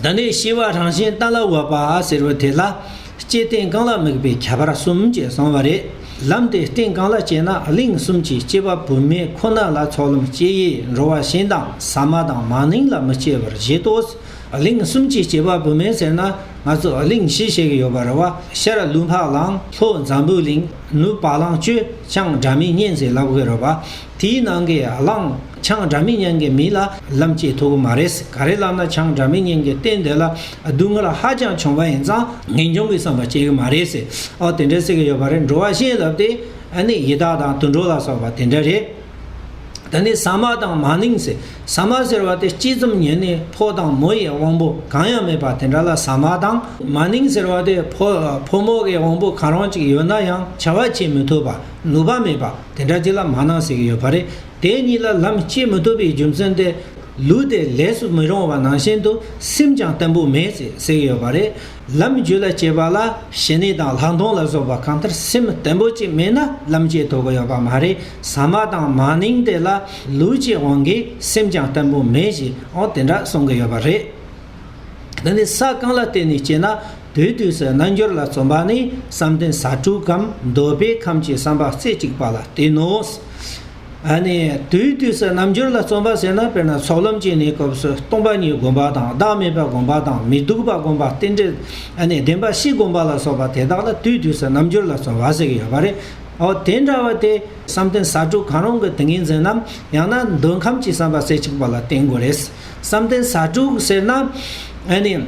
དེ་ནས་ཤེས་པ་རང་བཞིན་ལྟ་ལ་འོས་པ་ཟེར་བ་དེ་ལ་སྐྱེས་སྟེང་རྐང་ལག་དམིགས་པའི་ཁྱད་པར་གསུམ་བཅས་གསུངས་བ་རེད། ལམ་དེ་སྟེང་རྐང་ལག་སྐྱེས་ན་གླིང་གསུམ་གྱི་སྐྱེས་པ་བུད་མེད་ཁོ་ན་ལ་ཚོགས་ལམ་སྐྱེ་ཡི་འགྲོ་བ་གཞན་དང་ཟ་མ་དང་མ་ནིང་ལ་མི་སྐྱེ་བར་བཞེད་དོ། གླིང་གསུམ་གྱི་སྐྱེས་པ་བུད་མེད་ཟེར་ན་ང་ཚོ་གླིང་བཞི་བཤད་ཀྱི་ཡོད་པ་རེད་བ་ཤར་ལུགས་འཕགས་གླང་ལྷོ་འཛམ་བུའི་གླིང་ནུབ་བ་གླང་སྤྱོད་ཅང་སྒྲ་མི་སྙན་ཟེར་ལབ་གི་རེད་བ། དེའི་ནང་གི་གླང་ཆང་འདྲ་མིན་མྱངས་མཁན་མིན་ལ་ལམ་སྐྱེལ་ཐུབ་ཀྱི་མ་རེད་ཟེར་ག་རེ་ལབ་ན་ཆང་འདྲ་མིན་མྱངས་མཁན་བསྟན་དེ་ལ་སྡུག་བསྔལ་ཧ་ཅང་བྱུང་བ་ཡིན་ཙང་ངེས་འབྱུང་གི་བསམ་པ་སྐྱེ་གི་མ་རེད་ཟེར་ཨོ་དེ་འདྲ་ཟེར་གི་ཡོད་པ་རེད་འགྲོ་བ་གཞན་ལབ་དེ་ནི་ཡི་དྭགས་དང་དུད་འགྲོ་ལ་སོགས་པ་དེ་འདྲ་རེད། ད་ནི་ཟ་མ་དང་མ་ནིང་ཟེར་ཟ་མ་ཟེར་བ་དེ་སྤྱི་ཙམ་ཉོས་ནས་ཕོ་དང་མོ་ཡི་དབང་པོ་གང་ཡང་མེད་པ་དེ་འདྲ་ལ་ཟ་མ་དང་མ་ནིང་ཟེར་བ་དེ་ཕོ་མོ་གི་དབང་པོ་གང་རུང་ཅིག་ཡོད་ན་ཡང་བྱ་བ་བྱེད་མི་ཐུབ་པ་ནུས་པ་མེད་པ། དེ་འདྲ་ཅི་ལ་མ་གནང་ཟེར་གྱི་ཡོད་པ་རེད། དེ་གཉིས་ལ་ལམ་སྐྱེལ་མི་ཐུབ་པའི་རྒྱུ་མཚན་དེ། ལུས་དེ་ལས་སུ་མི་རུང་བ་ནང་བཞིན་དུ་སེམས་ཀྱང་བརྟན་པོ་མེད་ཟེར་གྱི་ཡོད་པ་རེད། ལམ་རྒྱུད་ལ་སྐྱེས་པ་ལ་ཞི་གནས་དང་ལྷག་མཐོང་ལ་སོགས་པ་གང་ལྟར་སེམས་བརྟན་པོ་གཅིག་མེད་ན་ལམ་སྐྱེལ་ཐུབ་ཀྱི་ཡོད་པ་མ་རེད། ཟ་མ་དང་མ་ནིང་དེ་ལ་ལུས་ཀྱི་དབང་གིས་སེམས་ཀྱང་བརྟན་པོ་མེད་ཞེས་འོ་དེ་འདྲ་གསུང་གི་ཡོད་པ་རེད། འདི་ནི་ས་གང་ལ་བལྟས་ནས་སྐྱེས་ན། དུས་དུས་སུ་རྣལ་འབྱོར་ལ་བརྩོན་པ་ནི་བསམ་གཏན་ས་དྲུག་གམ་འདོད་པའི་ཁམས་ཀྱི་བསམ་པ་རྩེ་གཅིག་པ་ལ་བརྟེན་ནོ། དུས་དུས་སུ་རྣལ་འབྱོར་ལ་བརྩོན་པ་ཟེར་ན་དཔེར་ན་ཚོགས་ལམ་གྱི་གནས་སྐབས་སུ་སྟོང་པ་ཉིད་བསྒོམ་པ་དང་བདག་མེད་པ་བསྒོམ་པ་དང་མི་སྡུག་པ་བསྒོམ་པ་རྟེན་འབྲེལ་བདེན་པ་བཞི་བསྒོམ་པ་ལ་སོགས་པ་དེ་དག་ལ་དུས་དུས་སུ་རྣལ་འབྱོར་ལ་བརྩོན་པ་ཟེར་གྱི་ཡོད་པ་རེད། དེ་འདྲ་བ་དེ་བསམ་གཏན་ས་དྲུག་གང་རུང་གི་ཏིང་ངེ་འཛིན་ནམ་ཡང་ན་འདོད་ཁམས་ཀྱི་བསམ་པ་རྩེ་གཅིག་པ་ལ་བརྟེན་དགོས་རེད། བསམ་གཏན་ས་དྲུག་ཟེར་ན།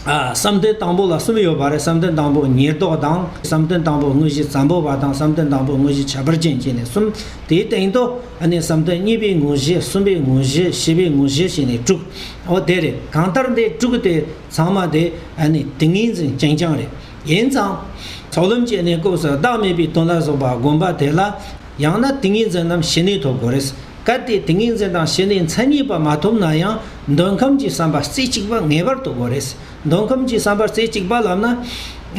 བསམ་གཏན་དང་པོ་ལ་གསུམ་ཡོད་པ་རེད་བསམ་གཏན་དང་པོ་ཉེར་བསྡོགས་དང་བསམ་གཏན་དང་པོ་དངོས་གཞི་ཛམ་པོ་བ་དང་བསམ་གཏན་དང་པོ་དངོས་གཞི་བྱ་བར་ཅན་བཅས་ནས་གསུམ་དེའི་སྟེང་དུ་ཨ་ནི་བསམ་གཏན་གཉིས་པའི་དངོས་གཞི་གསུམ་པའི་དངོས་གཞི་བཞི་པའི་དངོས་གཞི་ཞེས་ནས་དྲུག་འོ་དེ་རེད་གང་ལྟར་འདི་དྲུག་དེ་ཚང་མ་དེ་ཨ་ནི་ཏིང་ངེ་འཛིན་རྐྱང་རྐྱང་རེད་ཡིན་ཙང། ཚོགས་ལམ་བཅས་ནས་སྐབས་སུ་བདག་མེད་པའི་དོན་ལ་སོགས་པ་བསྒོམ་པ་དེ་ལ་ཡང་ན་ཏིང་ངེ་འཛིན་རྣམས་ཞི་གནས་ཐོབ་དགོས་རེད། གལ་ཏེ་ཏིང་ངེ་འཛིན་དང་ཞི་གནས་མཚན་ཉིད་པ་མ་ཐོབ་ན་ཡང་འདོད་ཁམས་ཀྱི་བསམ་པ་རྩེ་གཅིག་པ་ངེས་པར་དུ་དགོས་རེད། འདོད་ཁམས་ཀྱི་བསམ་པ་རྩེ་གཅིག་པ་ལབ་ན།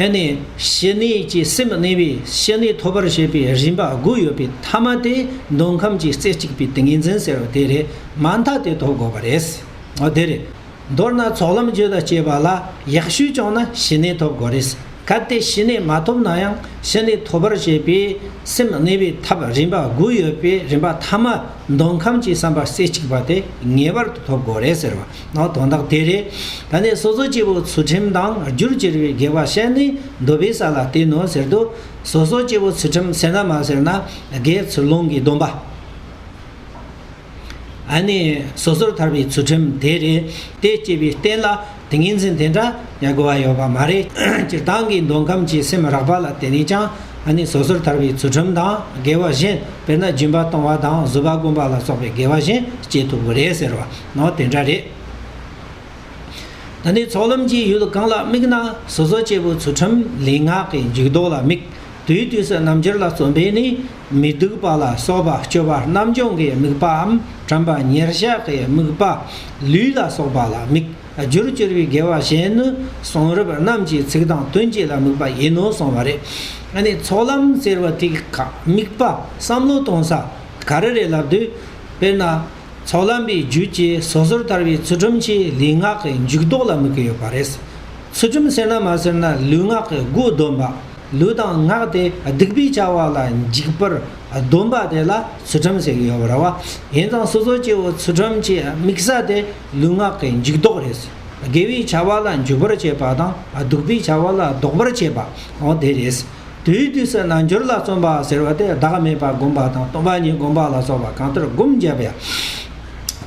ཨེ་ནས་ཞི་གནས་ཀྱི་སེམས་གནས་པས་ཞི་གནས་ཐོབ་པར་བྱེད་པའི་རིམ་པ་དགུ་ཡོད་པའི་མཐའ་མ་དེ་འདོད་ཁམས་ཀྱི་རྩེ་གཅིག་པའི་ཏིང་ངེ་འཛིན་ཟེར་བ་དེ་རེད། མ་མཐའ་དེ་ཐོབ་དགོས་པ་རེད། འོ་དེ་རེད། མདོར་ན་ཚོགས་ལམ་རྗོད་དང་སྤྱོད་པ་ལ་ཡག་ཤོས་བྱུང་ན་ཞི་གནས་ཐོབ་དགོས་རེད། གལ་ཏེ་ཞི་གནས་མ་ཐོབ་ན་ཡང་ཞི་གནས་ཐོབ་པར་བྱེད་པའི་སེམས་གནས་པའི་ཐབས་རིམ་པ་དགུ་ཡོད་པའི་རིམ་པ་ཐ་མ་འདོད་ཁམས་ཀྱི་བསམ་པ་རྩེ་གཅིག་པ་དེ་ངེས་པར་དུ་ཐོབ་དགོས་རེད་ཟེར་བ་ན་དོན་དག་དེ་རེད། ད་ནས་སོ་སོ་སྐྱེ་བོ་ཚུལ་ཁྲིམས་དང་རྒྱུར་གྱུར་པའི་དགེ་བ་བཤད་ནས་འདོད་པའི་ས་ལ་བསྟེན་ནོ་ཟེར་དུས་སོ་སོ་སྐྱེ་བོ་ཚུལ་ཁྲིམས་ཟེར་ན་མ་ཟེར་ན་དགེ་ཚུལ་སློང་གི་སྡོམ་པ། ཨ་ནི་སོ་སོར་ཐར་པའི་ཚུལ་ཁྲིམས་དེ་རེད་དེ་སྐྱེས་པའི་རྟེན་ལ་ཏིང་ངེ་འཛིན་དེ་འདྲ་ཡ་དགོས་པ་ཡོད་པ་མ་རེད་སྤྱིར་བཏང་གི་འདོད་ཁམས་ཀྱི་སེམས་རགས་པ་ལ་དེ་ནས་ཀྱང་ཨ་ནི་སོ་སོར་ཐར་པའི་ཚུལ་ཁྲིམས་དང་འགལ་བ་གཞན་དཔེར་ན་སྦྱིན་པ་གཏོང་བ་དང་བཟོད་པ་བསྒོམ་པ་ལ་སོགས་པའི་འགལ་བ་གཞན་སྐྱེ་ཐུབ་ཀྱི་རེད་ཟེར་བ་ནའོ་དེ་འདྲ་རེད། ད་ནི་ཚོགས་ལམ་གྱི་ཡུལ་གང་ལ་དམིགས་ན་སོ་སོ་སྐྱེ་བོའི་ཚུལ་ཁྲིམས་ལས་སྔགས་ཀྱི་འཇུག་ལྡོག་ལ་དམིགས་དུས་དུས་སུ་རྣམ་འགྱུར་ལ་རྩོམ་པས་ནི་མི་སྡུག་པ་ལ་སོགས་པ་སྤྱོད་པ་རྣམ་སྦྱོང་གི་དམིགས་པའམ་དྲན་པ་ཉེར་གཞག་གི་དམིགས་པ་ལུས་ལ་སོགས་པ་ལ་དམིགས་རྒྱུར་གྱུར་པའི་དགེ་བ་གཞན་ནི་གསུང་རབ་རྣམས་ཀྱི་ཚིག་དང་དོན་གཅིག་ལ་དམིགས་པ་ཡིན་ནོ་གསུངས་པ་རེད། ནི་ཚོགས་ལམ་ཟེར་བ་དེ་ག་དམིགས་པ་བསམ་བློ་གཏོང་ས་ག་རེ་རེད་ལབ་དུས། དཔེར་ན། ཚོགས་ལམ་པའི་རྒྱུད་ཀྱི་སོ་སོར་ཐར་བའི་ཚུལ་ཁྲིམས་ཀྱི་ལུས་ངག་གི་འཇུག་ལྡོག་ལ་དམིགས་ཀྱི་ཡོད་པ་རེད། ཚུལ་ཁྲིམས་ཟེར་ན་མ་ཟེར་ན་ལུས་ངག་གི་སྒོས་སྡོམ་པ། ལུས་དང་ངག་དེ་སྡིག་པའི་བྱ་བ་ལ་འཇིགས་པར་སྡོམ་པ་དེ་ལ་ཚུལ་ཁྲིམས་ཟེར་གྱི་ཡོད་པ་རེད། ཡིན་ཙང་སོ་སོ་སྐྱེ་བོ་ཚུལ་ཁྲིམས་ཀྱི་དམིགས་ས་དེ་ལུས་ངག་གི་འཇུག་ལྡོག་རེད། དགེ་བའི་བྱ་བ་ལ་འཇུག་པར་བྱེད་པ་དང་སྡུག་པའི་བྱ་བ་ལ་ལྡོག་པར་བྱེད་པའང་དེ་རེད། དེའི་དུས་སུ་རྣལ་འབྱོར་ལ་བརྩོན་པ་ཟེར་བ་དེ་བདག་མེད་པར་བསྒོམ་པ་དང་སྟོང་པ་ཉིད་བསྒོམ་པ་ལ་སོགས་པ་གང་ལྟར་བསྒོམ་བརྒྱབ་པའི་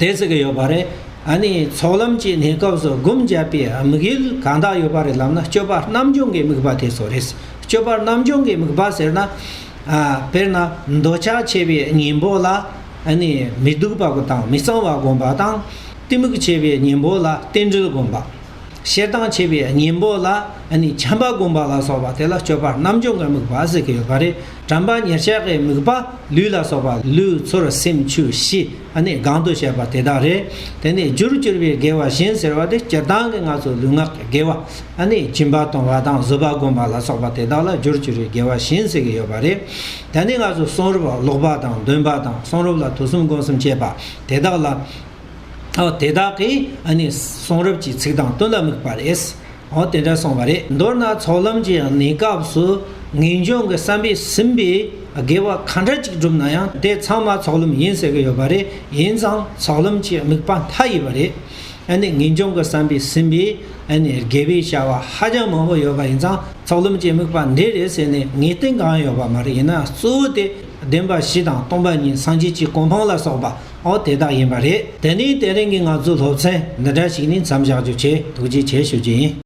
དེ་ཟེར་གྱི་ཡོད་པ་རེད། ཨ་ནི་ཚོགས་ལམ་གྱི་གནས་སྐབས་སུ་བསྒོམ་བརྒྱབ་པའི་དམིགས་ཡུལ་གང་དག་ཡོད་པ་རེད་ལབ་ན་སྤྱོད་པ་རྣམ་སྦྱོང་གི་དམིགས་པ་དེ་སོགས་རེད། སྤྱོད་པ་རྣམ་སྦྱོང་གི་དམིགས་པ་ཟེར་ན། དཔེར་ན་འདོད་ཆགས་ཆེ་བའི་གཉེན་པོ་ལ་ཨ་ནི་མི་སྡུག་པ་དང་མི་གཙང་བ་བསྒོམ་པ་དང། གཏི་མུག་ཆེ་བའི་གཉེན་པོ་ལ་རྟེན་འབྲེལ་བསྒོམ་པ། ཤེར་དང་བྱེད་པའི་གཉེན་པོ་ལ་ནི་བྱམས་པ་བསྒོམ་པ་ལ་སོགས་པ་དེ་ལ་སྤྱོད་པ་རྣམ་འབྱོར་འགའ་དམིགས་པ་ཟེར་གྱི་ཡོད་པ་རེད་དྲན་པ་ཉེར་བྱས་ཀྱི་དམིགས་པ་ལུས་ལ་སོགས་པ་ལུས་ཚོར་སེམས་ཆུ་བཞི་ནི་གང་དུ་བཤད་པ་དེ་དག་རེད་དེ་ནས་རྒྱུར་གྱུར་པའི་དགེ་བ་གཞན་ཟེར་བ་དེ་སྤྱིར་བཏང་གི་ང་ཚོ་ལུས་ངག་གི་དགེ་བ་ནི་སྦྱིན་པ་གཏོང་བ་དང་བཟོད་པ་བསྒོམ་པ་ལ་སོགས་པ་དེ་དག་ལ་རྒྱུར་གྱུར་བའི་དགེ་བ་གཞན་ཟེར་གྱི་ཡོད་པ་རེད་དེ་ནས་ང་ཚོ་གསུང་རབ་ཀློག་པ་དང་འདོན་པ་དང་གསུང་རབ་ལ་ཐོས་བསམ་སྒོམ་གསུམ་བྱེད་པ་དེ་དག་ལ། ཨོ་དེ་དག་གིས་ཨ་ནི་གསུང་རབ་ཀྱི་ཚིག་དང་དོན་ལ་དམིགས་པ་རེད། ཨོ་དེ་འདྲ་གསུངས་པ་རེད། མདོར་ན་ཚོགས་ལམ་གྱི་གནས་སྐབས་སུ་ངེས་འབྱུང་གི་བསམ་པས་ཟིན་པའི་དགེ་བ་གང་འདྲ་ཅིག་བསྒྲུབས་ན་ཡང་དེ་ཚང་མ་ཚོགས་ལམ་ཡིན་ཟེར་གྱི་ཡོད་པ་རེད། ཡིན་ཙང་ཚོགས་ལམ་གྱི་དམིགས་པ་མཐའ་ཡས་པ་རེད། ཨ་ནི་ངེས་འབྱུང་གི་བསམ་པས་ཟིན་པའི་ཨ་ནི་དགེ་བའི་བྱ་བ་ཧ་ཅང་མང་པོ་ཡོད་པ་ཡིན་ཙང་ཚོགས་ལམ་གྱི་དམིགས་པ་འདི་རེད་ཟེར་ནས་ངེས་གཏན་གང་ཡང་ཡོད་པ་མ་རེད་ཡིན་ན་གཙོ་བོ་དེ་བདེན་པ་བཞི་དང་སྟོང་པ་ཉིད་སངས་རྒྱས་ཀྱི་གོ་འཕང་ལ་སོགས་པ། ཨོ་དེ་དག་ཡིན་པ་རེད། དེ་ནི་དེ་རིང་གི་ང་ཚོའི་སློབ་ཚན་འདི་འདྲ་ཞིག་ནས་མཚམས་བཞག་རྒྱུ་ཆེད་ཐུགས་རྗེ་ཆེ་ཞུ་རྒྱུ་ཡིན།